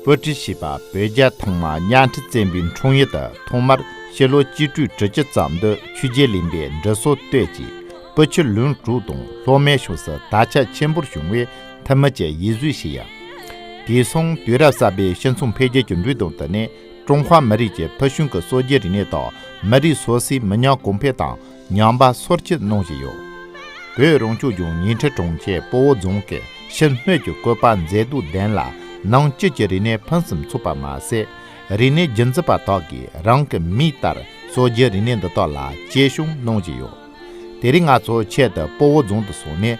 པོ་ཀྲི་ཞེས་པ་བོད་རྒྱ་ཐང་མ་གཉའ་ཁྲི་བཙན་པོའི་འཁྲུངས་ཡུལ་དུ་ཐོག་མར་སྤྱི་ལོ་སྤྱི་དྲུག་དྲུག་ཅུ་ཙམ་དུ་ཆོས་རྒྱལ་གླིང་པའི་འབྲི་སྲོལ་བཏོད་ཅིང་པོ་ཆུ་ལོན་གྲུ་དང་ལྷོ་མའི་ཕྱོགས་སུ་དར་ཆ་ཆེན་པོར་བྱུང་བས་ཐབས་མ་བཅས་ཡིད་བཟོས་བཞི་ཡ། དེ་མཚུངས་དུས་རབས་གསར་པའི་ཤ་མཚུངས་འཕེལ་རྒྱས་ཀྱི་འབུད་རྡོ་འདི་ནི་ཀྲུང་ཧྭ་མི་རིགས་ཀྱི་ཕུལ་བྱུང་གི་སོ་སྐྱེ་རིག་གནས་དང་མི་རིགས་སོ་སོའི་མི་ཉམས་གོང་འཕེལ་དང་ཉམས་པ་སོར་ཆུད་གནང་བཞིན་ཡོད། བོད་རང་སྐྱོང་ལྗོངས་ཉིང་ཁྲི་གྲོང་ཁྱེར་སྤོ་བོ་རྫོང་གིས་ཕྱི་སྣོད་ཀྱི་བཀོད་པ་མཛེས་སྡུག་ལྡན་ལ་ནང་སྐྱིད་ཀྱི་རིག་གནས་ཕུན་སུམ་ཚོགས་པ་མ་ཟད། རིག་གནས་རྒྱུན་འཛིན་པ་དག་གིས་རང་གི་མིག་ལྟར་སོ་སྐྱེ་རིག་གནས་འདི་དག་ལ་གཅེས་སྐྱོང་གནང་བཞིན་ཡོད། དེ་རིང་ང་ཚོ་ཆེད་དུ་སྤོ་བོ་རྫོང་དུ་སོང་ནས།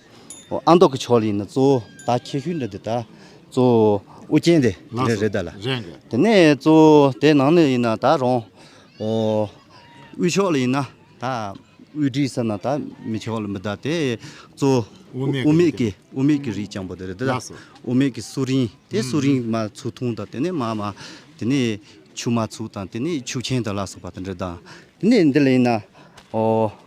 ཨ་མདོ་གི་ཕྱོགས་ལ་ཡིན་ན་གཙོ་བོ་ད་ཁྱད་ཤུལ་འདྲ་དེ་ད་གཙོ་བོ་ཨུ་རྒྱན་དེ་འདྲ་རེད་ད་ལ། དེ་ནས་གཙོ་བོ་དེ་ནང་ནས་ཡིན་ན་ད་རོང་དབུས་ཕྱོགས་ལ་ཡིན་ན་ད་དབུས་འབྲི་ས་ན་ད་མི་ཕྱོགས་ལ་མི་ད་དེ་གཙོ་བོ་དབུ་མེད་ཀྱི་དབུ་མེད་ཀྱི་རིགས་རྐྱང་པོ་དེ་རེད་ད་ལ། དབུ་མེད་ཀྱི་སུ་རིན་དེ་སུ་རིན་མ་ཚུགས་ཐུང་དང་དེ་ནས་མ་མ་དེ་ནས་ཆུ་མ་ཚུགས་དང་དེ་ནས་ཆུ་ཆེན་ད་ལ་སོགས་པ་དེ་འདྲ་དང་དེ་ནས་འདི་ལ་ཡིན་ན།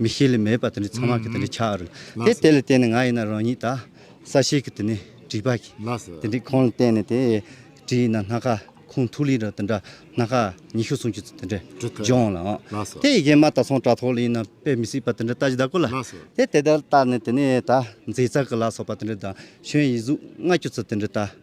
མི་ཤེས་ལས་མེད་པ་དེ་ནི་ཚང་མ་གི་དེ་ནི་ཆགས་རུ་དེ་དེ་ལ་བརྟེན་ནས་ང་ཡིན་ན་རང་ཉིད་ད་ས་ཞིག་གི་དེ་ནི་བྲིས་པ་གི་དེ་འདྲའི་ཁོང་ལ་བརྟེན་ནས་དེ་བྲིས་ན་སྣ་ཁ་ཁུང་ཐུག་ལི་ར་དེ་འདྲ་སྣ་ཁ་ཉི་ཤུ་སུམ་ཅུ་ཚོ་དེ་འདྲ་སྦྱོང་ལ་འོང་དེ་ཡི་གེ་མ་དག་ཚོང་དྲ་ཐོག་ལ་ཡིན་ན་དཔེ་མི་སྲིད་པ་དེ་འདྲ་ལྟ་ཅི་ད་གོ་ལ་དེ་དེ་ལྟར་བལྟ་ནས་དེ་ནི་ད་མཛེས་རྩལ་གི་ལ་སོགས་པ་དེ་འདྲ་དང་གཞོན་ཡིག་གཟུགས་ལྔ་བཅུ་ཚོ་དེ་འདྲ་ལྟ།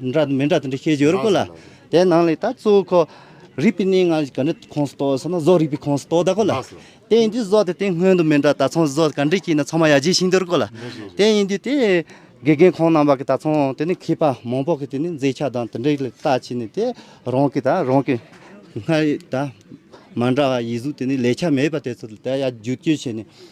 འདྲ་དང་མི་འདྲ་དང་འདྲ་ཤེས་སྦྱོར་དགོས་ལ། དེ་ནང་ལས་ད་གཙོ་བོ་ཁོ། རིག་པའི་གནས་ལྔ་ག་འདྲའི་ཁོངས་སུ་གཏོགས་ཟེར་ན་བཟོ་རིག་པའི་ཁོངས་སུ་གཏོགས་ད་གོ་ལ། དེ་ཡིན་དུས་བཟོ་དེ་དེ་སྔོན་དུ་མི་འདྲ་ད་ཚང་བཟོ་ག་འདྲའི་སྐྱིད་ན་ཚང་མ་ཡ་གྱལ་ཤིང་འདོར་གོ་ལ། དེ་ཡིན་དུས་དེ། དགེ་རྒན་ཁོང་རྣམ་པ་གི་ད་ཚང་དེ་ནི་མཁས་པ་མང་པོ་གི་དེ་ནི་མཛེས་ཆ་དང་དེ་འདྲའི་ལ་ལྟ་བྱས་ནས་དེ་རང་གི་ད་རང་གི། སྔར་ཡོད་ད། མ་འདྲ་བ་ཡིག་གཟུགས་དེ་ནི་ལས་ཆ་མེད་པ་དེ་ཚོ་ལ་ད་ཡ་བསྒྱུར་བཅོས་བྱས་ནས།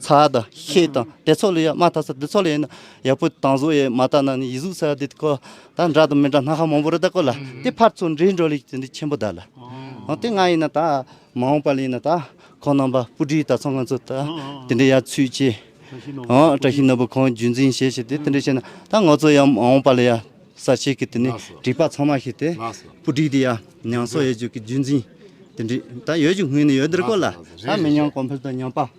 ཚ་དང་ཤེད་དང་དེ་ཚོ་ལས་ཡག་མ་ཐག་ས་འདི་ཚོ་ལས་ཡིན་ན་ཡག་པོ་དང་བཟོ་ཡས་མ་ཐག་ན་ནི་ཡིད་གཟུགས་ས་འདི་ཀོ་ད་འདྲ་དང་མི་འདྲ་སྣ་ཁ་མང་པོ་རི་དྭགས་ཀོ་ལ་དེ་ཕར་ཚུར་འདྲེས་འགྲོ་ལས་ཀྱི་འདི་ཆེན་པོ་ད་ལ་ཨོ་དེ་ང་ཡིན་ན་ད་མ་འོངས་པ་ལ་ཡིན་ན་ད་ཁོང་རྣམ་པ་སྤུ་གྲིའི་ད་ཚོ་ང་ཚོ་ད་དེ་འདྲའི་ཡ་ཚུད་ཅེས་ཨོ་བཀྲ་ཤིས་ནོར་བུ་ཁོང་རྒྱུད་འཛིན་བྱས་ཞེས་དེ་དེ་འདྲས་བྱས་ན་ད་ང་ཚོ་ཡ་མ་འོངས་པ་ལ་ཡ་ས་ཆེ་གི་དེ་ནས་བྲིས་པ་ཚང་མ་ཤེས་ཏེ་སྤུ་གྲིའི་དེ་ཡ་ཉང་སོ་ཡ་ཇུག་གི་རྒྱུད་འཛིན་དེ་འདྲས་ད་ཡོད་ཀྱི་ངོས་ནས་ཡོད་འདིར་ཀོ་ལ་ད་མི་ཉམས་གོང་འཕེལ་དང་ཉམས་པ།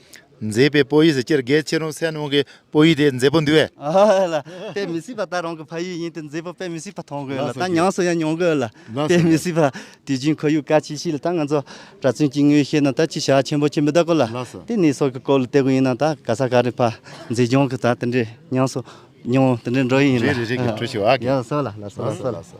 མཛེས་པའི་སྤོ་ཡིས་སྤྱིར་རྒས་ཕྱིར་རུང་སེམས་ནང་གི་སྤོ་ཡིས་དེ་མཛེས་པོ་འདུལ་བས། ལ་དཔེ་མི་སྲིད་པ་ད་རང་གི་ཕ་ཡུལ་ཡིན་དུས་མཛེས་པོ་དཔེ་མི་སྲིད་པ་མཐོང་དགོས་ལ་ད་མྱངས་སུ་ཡང་མྱོང་དགོས་ལ་དཔེ་མི་སྲིད་པ། དུས་རྒྱུན་ཁོར་ཡུག་ག་ཅིག་ཞིག་ལ་ད་ང་ཚོ་གྲྭ་བཙུན་གྱི་ངོས་ཤེས་ན་ད་ཅི་བྱ་ཆེན་པོ་ཆེ་མི་ད་གོ་ལ་དེ་ནི་སྲོག་གི་སྐོར་ལ་བལྟས་པོ་ཡིན་ན་ད་ག་ས་ག་རེ་ཕ་མཛེས་ལྗོངས་ཀྱི་ད་དེ་འདྲའི་མྱངས་སུ་མྱོང་དེ་འདྲའི་འགྲོ་ཡི་ཡིན་ལ། རེད་རེད་རེད་གི་གྲུ་ཞིག་བ་གི། ཡ་ལ་སོ་ལ་ལ་སོ་ལ་སོ་ལ་སོ།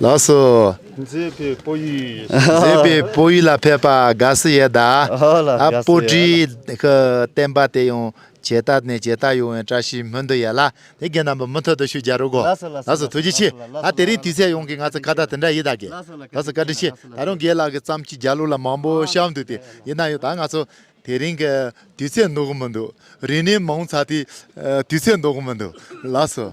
ལགས་སོ། མཛེས་པའི་སྤོ་ཡུལ་ཡིན། མཛེས་པའི་སྤོ་ཡུལ་ལ་ཕེབས་པ་དགའ་བསུ་ཡོད་ད། སྤོ་གྲིའི་བསྟན་པ་དེ་ཡང་ཇེ་དར་ནས་ཇེ་དར་ཡོང་བའི་བཀྲ་ཤིས་སྨོན་འདུན་ཡོད་ལ་དེ་རྒན་རྣམ་པ་མུ་མཐུད་དུ་ཤུགས་རྒྱག་རོགས་གོ། ལགས་སོ་ཐུགས་རྗེ་ཆེ། ད་དེ་རིང་དུས་ཚོད་ཡོང་གི་ང་ཚོ་ཁ་བརྡ་དེ་འདྲ་ཡིད་ད་གི། ལགས་སོ་བཀའ་དྲིན་ཆེ། ད་རུང་རྒན་ལགས་ཀྱི་བརྩམས་ཆོས་རྒྱ་ལུགས་ལ་མང་པོ་བཤམས་འདུག་དེ་ཡིན་ན་ཡང་ད་ང་ཚོ་དེ་རིང་གི་དུས་ཚོད་འདོག་གི་མི་འདུག་རིང་ནས་མང་ཚ་དེ་དུས་ཚོད་འདོག་གི་མི་འདུག་ལགས་སོ།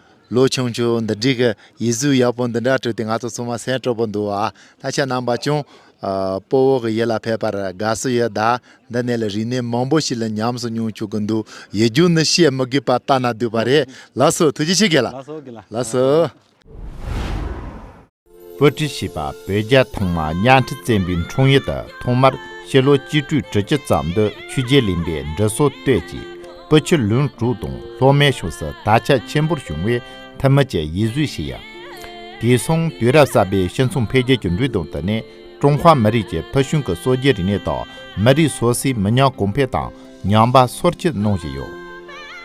ལོ་ཆུང་ཆུང་འདི་འདྲིས་གི་ཡིད་གཟུགས་ཡག་པོ་འདི་འདྲ་སྤྲུལ་ཏེ་ང་ཚོ་ཚང་མ་སེམས་སྤྲོ་པོ་འདུག་བ་ད་ཆ་རྣམ་པ་ཅུང་སྤོ་བོ་གི་ཡིད་ལ་ཕེབས་པར་དགའ་བསུ་ཡོད་ད་འདི་ནས་ལ་རིག་གནས་མང་པོ་ཞིག་ལ་ཉམས་སུ་མྱོང་ཆོག་གི་འདུག་ཡིད་སྒྱུར་ནི་བཤད་མི་དགོས་པ་ལྟ་ན་སྡུག་པ་རེད་ལགས་སོ་ཐུགས་རྗེ་ཆེ་གེ་ལགས་སོ། པོ་ཏི་ཞེས་པ་བོད་རྒྱ་ཐོག་མ་གཉའ་ཁྲི་བཙན་པོའི་འཁྲུངས་ཡུལ་དུ་ཐོག་མར་སྤྱི་ལོ་གཅིག་དྲུག་དྲུག་ཅུ་ཙམ་དུ་ཆོས་རྒྱལ་གླིང་པའི་འབྲི་སྲོལ་བཏོད་ཅིང་པུ་ཆུ་ལུང་དྲུག་དང་ལྷོ་སྨད་ཕྱོགས་སུ་དར་ཆ་ཆེན་པོར་བྱུང་བས་ཐ་མི་དཔྱད་ཡིད་བཟོད་བྱེད་ཡ། དེ་སོང་དུས་རབས་གསར་པའི་སྤྱི་མཚུངས་འཕེལ་རྒྱས་ཀྱི་འགྲོས་དང་བསྟུན་ནས་ཀྲུང་ཧྭ་མི་རིགས་ཀྱི་ཕུལ་བྱུང་གི་སྲོལ་རྒྱུན་རིག་གནས་དང་མི་རིགས་སོ་སོའི་མི་ཉམས་གོང་འཕེལ་དང་ཉམས་པ་སོར་བཅུ་གནང་བཞིན་ཡོད།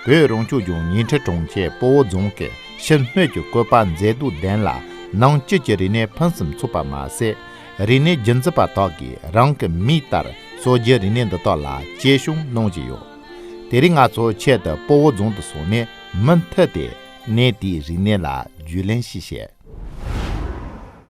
བོད་རང་སྐྱོང་ལྗོངས་ཉིང་ཁྲི་གྲོང་ཁྱེར་སྤོ་བོ་རྫོང་གི་ཕྱིར་སྣོད་ཀྱི་བཀོད་པ་མཛེས་སྡུག་ལྡན་ལ་ནང་སྐྱིད་ཀྱི་རིག་གནས་ཕུན་སུམ་ཚོགས་པ་མ་ཟད་རིག་གནས་རྒྱུན་འཛིན་པ་དག་གིས་རང་གི་མིག་ལྟར་གསོ་རྒྱུའི་རིག་གནས་འདི་དག་ལ་གཅེས་སྲུང་གནང་བཞིན་ཡོད། དེ་རིང་ང་ཚོ་ཆེད་དུ་སྤོ་བོ་རྫོང་དུ་སོང་ནས་མུ་མཐུད་དེ་གནས་དེའི་རིག་གནས་ལ་རྒྱུས་ལོན་ཞིག་བྱས།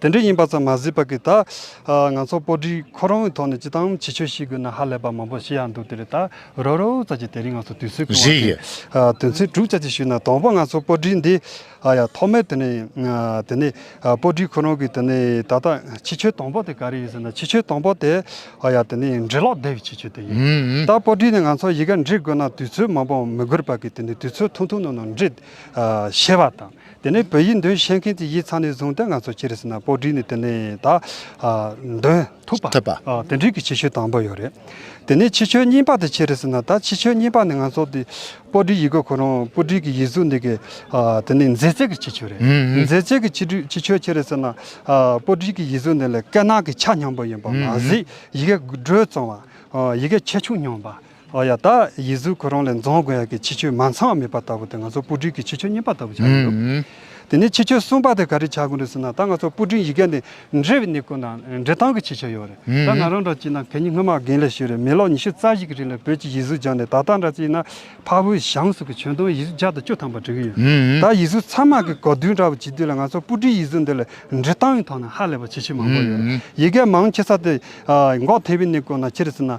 དེ་འདྲ་ཡིན་པ་ཙམ་མ་ཟད་པ་གིས་ད། ང་ཚོ་སྤོ་སྒྲིག་ཁོ་རང་གི་ཐོག་ནས་ཅི་ཐང་ཇི་ཆོས་ཤིག་དགོས་ན་ཧ་ལས་པ་མང་པོ་བཤད་ཡག་འདུག་དེ་རེད་ད། རོ་རོ་ཙག་ཅིག་དེ་རིང་ང་ཚོ་དུས་ཚོད་ཁེངས་བ་དེ། དོན་ཚན་དྲུག་ཙག་ཅིག་ཞུས་ན་དང་པོ་ང་ཚོ་སྤོ་སྒྲིག་འདི། ཨ་ཡ་ཐོག་མའི་དེ་ནས། དེ་ནས། སྤོ་སྒྲིག་ཁོ་རང་གི་དེ་ནས་ད་ལྟ་ཕྱི་ཆོས་དང་པོ་དེ་ག་རེ་ཡིན་ཟེར་ན་ཕྱི་ཆོས་དང་པོ་དེ། ཨ་ཡ་དེ་ནས་འབྲི་ཀློག་བདེ་བའི་ཕྱི་ཆོས་དེ་ཡིན། ད་སྤོ་སྒྲིག་ནས་ང་ཚོ་ཡི་གེ་འབྲི་དགོས་ན་དུས་ཚོད་མང་པོ་མི་དགོས་པ་གིས་དེ་ནས་དུས་ཚོད་ཐུང་ཐུང་ནང་ནང་འབྲི། ཞེས་པ་དང། དེ་ནས་བོད་ཡིག་འདོན་བཤད་མཁན་གྱི་ཡིག་ཚང་ནས་བཟུང་སྟེ་ང་ཚོ་སྤྱིར་ཟེར་ན་པོ་བསྒྲིགས་ནས་དེ་ནས་ད་འདོན་ཐུབ་པ། དེ་འབྲེལ་གྱི་ཕྱི་ཆོས་དང་པོ་ཡོད་རེད། དེ་ནས་ཕྱི་ཆོས་གཉིས་པ་དེ་ཕྱིར་ཟེར་ན་ད་ཕྱི་ཆོས་གཉིས་པ་ནི་ང་ཚོ་དེ་པོ་བསྒྲིགས་ཡིག་གི་ཁོ་རང་པོ་བསྒྲིགས་ཀྱི་ཡིག་གཟུགས་འདི་གི་དེ་ནི་མཛེས་རྩལ་གྱི་ཕྱི་ཆོས་རེད། མཛེས་རྩལ་གྱི་ཕྱི་ཆོས་ཕྱིར་ཟེར་ན་པོ་བསྒྲིགས་ཀྱི་ཡིག་གཟུགས་འདི་ལ་སྐད་ནག་གི་ཆ་སྙོམས་པོ་ཡིན་པ་མ་ཟད་ཡི་གེ་འགྲོས་གཙང་བ། ཡི་གེ་ཆེ་ཆུང་སྙོམས་པ། ཨོ་ཡ་ད་ཡིད་གཟུགས་ཁོ་རང་ལས་འཛོམས་དགོས་ཡ་གི་ཕྱི་ཆོས་མ་ཚང་བ་མེད་པ་ལྟ་བུ་དེ་ང་ཚོ་སྤུ་གྲིའི་གི་ཕྱི་ཆོས་རྙིང་པ་ལྟ་བུ་ཆགས་ཀྱི་འདུག་དེ་ནས་ཕྱི་ཆོས་གསུམ་པ་དེ་ག་རེ་ཆགས་དགོས་རེད་ཟེར་ན་ད་ང་ཚོ་སྤུ་གྲིའི་ཡི་གེ་འདི་འབྲི་བའི་ནི་ཁོ་ན་འབྲི་སྟངས་གི་ཕྱི་ཆོས་ཡོད་རེད་ད་ང་རང་འདྲ་ཅིག་ན་གད་སྙིགས་སྔོན་མ་རྒན་ལས་ཤོས་རེད་མི་ལོ་ཉི་ཤུ་རྩ་བཞི་གི་རིང་ལ་བོད་ཀྱི་ཡིད་གཟུགས་སྦྱངས་ནས་ད་ལྟ་འདྲ་ཅིག་ན་ཕ་བོའི་གཞང་སོགས་ཀྱི་བྱོན་དོན་ཡིད་གཟུགས་བརྒྱ་དང་བཅུ་ཐམ་པ་འབྲི་གི་ཡོད་ད་ཡིད་གཟུགས་ཚང་མ་གི་གོ་བསྡུར་འདྲ་བུ་བྱེད་དུས་ལ་ང་ཚོ་སྤུ་གྲིའི་ཡིད་གཟུགས་འདི་ལ་འབྲི་སྟངས་ཡིན་ཐོག་ན་ཧ་ལས་པ་ཕྱི་ཆོས་མང་པོ་ཡོད་རེད་ཡི་གེ་མང་ཆེ་ས་དེ་འགོག་ཐེབས་པའི་ནི་ཁོ་ན་ཕྱིར་ཟེར་ན།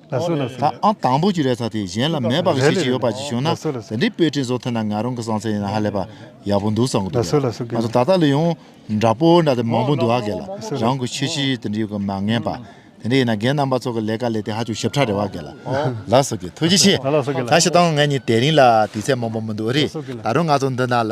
དང་པོ་གྱི་རེ་ཐག་དེ་གཞན་ལ་མེད་པ་གི་ཤེས་ཀྱི་ཡོད་པ་ཅིག་བྱུང་ན་དེ་འདྲའི་པོད་ཕྲིན་བཟོ་ཐུབ་ན་ང་རང་གི་བསམ་ཚུལ་ཡིན་ན་ཧ་ལས་པ་ཡག་པོ་འདུག་བསམ་གི་འདུག་ང་ཚོ་ད་ལྟ་ལ་ཡང་འདྲ་པོ་འདྲ་དེ་མང་པོ་འདུག་ཨ་གལ་ལ་རང་གི་ཆོས་ཤེས་ཡོད་དེ་འདྲ་ཡོད་ཀི་མ་ངན་པ་དེ་འདྲ་ཡིན་ན་རྒན་རྣམ་པ་ཚོ་གི་ལས་ཀ་ལས་དེ་ཧ་ཅུང་ཞིབ་ཕྲ་རེད་བ་གལ་ལ་ལ་སོ་གི་ཐུགས་རྗེ་ཆེ་ད་ཤི་དང་ང་གཉིས་དེ་རིང་ལ་དུས་ཚད་མང་པོ་མི་འདུག་རེད་ད་རུང་ང་ཚོ་འདི་ན་ལ